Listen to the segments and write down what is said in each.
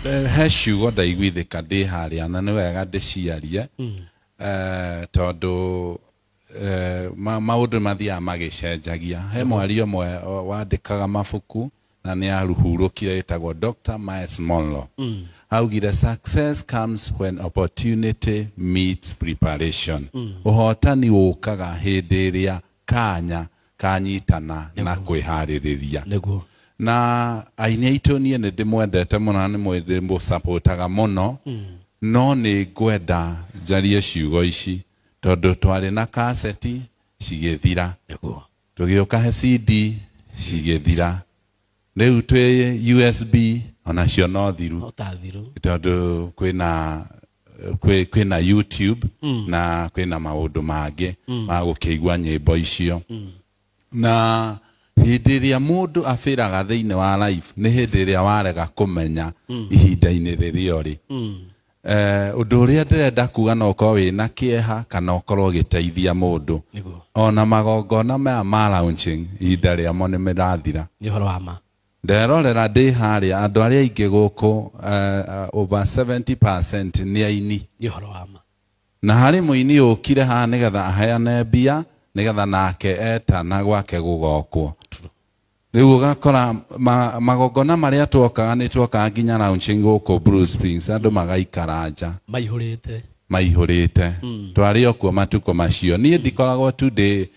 Eh, he ciugo ndaiguithĩka ndĩ harĩa na nĩ wega ndĩciarie Eh, tondũ eh, ma- maũndũ mathiaga magĩcenjagia he mwaria ũmwe o- wandĩkaga mabuku na nĩ aruhurũkire ĩtagwo dr miles monlo augire success comes when opportunity meets preparation ũhotani ũkaga hĩndĩ ĩrĩa kanya kanyitana na kwĩharĩrĩria nĩguo na aini aitũ niĩ nĩ ndĩmwendete mũno na nĩ mwĩ- ndĩmũsapũtaga mũno no nĩ ngwenda njarie ciugo ici tondũ twarĩ na kaseti cigĩthira nĩguo tũgĩũka he cd cigĩthira rĩu twĩ usb onacio no thiru no tathiru tondũ kwĩna kwĩ kwĩna YouTube na kwĩna maũndũ mangĩ ma gũkĩigua nyĩmbo icio na hĩndĩ ĩrĩa mũndũ abĩraga thĩinĩ wa life nĩ hĩndĩ ĩrĩa warega kũmenya ihinda-inĩ rĩrĩa ũrĩ Eh, ũndũ ũrĩa ndĩrenda kuga no ũkorwo wĩ na kĩeha kana ũkorwo ũgĩteithia mũndũ Nĩguo. ona magongona maya ma launching ihinda rĩamo nĩ mĩrathira nĩ ũhoro wa ma Nderorera ndĩ harĩa, andũ arĩa aingĩ gũkũ uh, over 70% nĩ aini. Nĩ ũhoro wa ma. Na harĩ mũini ũkire haha nĩgetha aheane mbia nĩgetha nake etana gwake gũgokwo. Rĩu ũgakora ma, magongona marĩa twokaga nĩ twokaga nginya lounge gũkũ Bruce Springs andũ magaikara nja. Maihũrĩte. Maihũrĩte. Mm. Twarĩ o kuo matukũ macio. Niĩ ndikoragwo tu ndĩ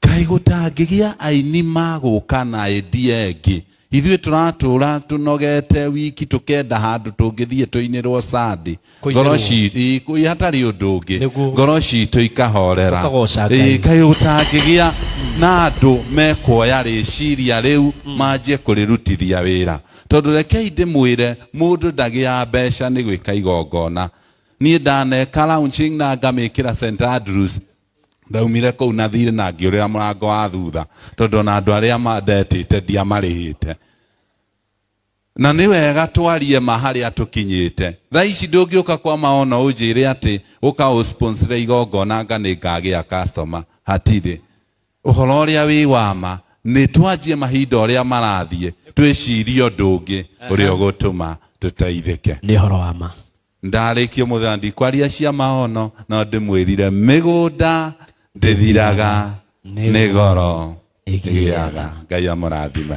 kaĩ gũtangĩgĩa aini magũka na endia ĩngĩ ithuĩ tũratũra tũnogete wiki tũkenda handũ tũngĩthiĩ tũinĩrwo sandi Kũinĩrwo. ngoro ci- ĩ, kũ- hatarĩ ũndũ ũngĩ Nĩguo. ngoro citũ ikahorera Tũkagoca Ngai. Ĩ, kaĩ gũtangĩgĩa na andũ mekuoya rĩciria rĩu manjie kũrĩrutithia wĩra tondũ rekei ndĩmwĩre mũndũ ndagĩaga mbeca nĩ gwĩka igongona niĩ ndaneka launching na ngamĩkĩra St Andrews ndaumire kũu na thirĩ na ngĩũrĩra mũrango wa thutha tondũ na andũ arĩa mandetĩte ndiamarĩhĩte na nĩ wega twarie ma harĩa tũkinyĩte tha ici ndũngĩũka kwa maona ũnjĩre atĩ ũka ũsponsire igongona nga nĩ ngagĩa customer hatirĩ ũhoro ũrĩa wĩ wama nĩ twanjie mahinda ũrĩa marathiĩ twĩcirie ũndũ ũngĩ ũrĩa ũgũtũma tũteithĩke nĩ ũhoro wa ma Ndarĩkia ũmũthĩ na ndikwaria cia maono no ndĩmwĩrire mĩgũnda ndĩthiraga nĩ goro ĩgĩaga. Ngai amũrathime.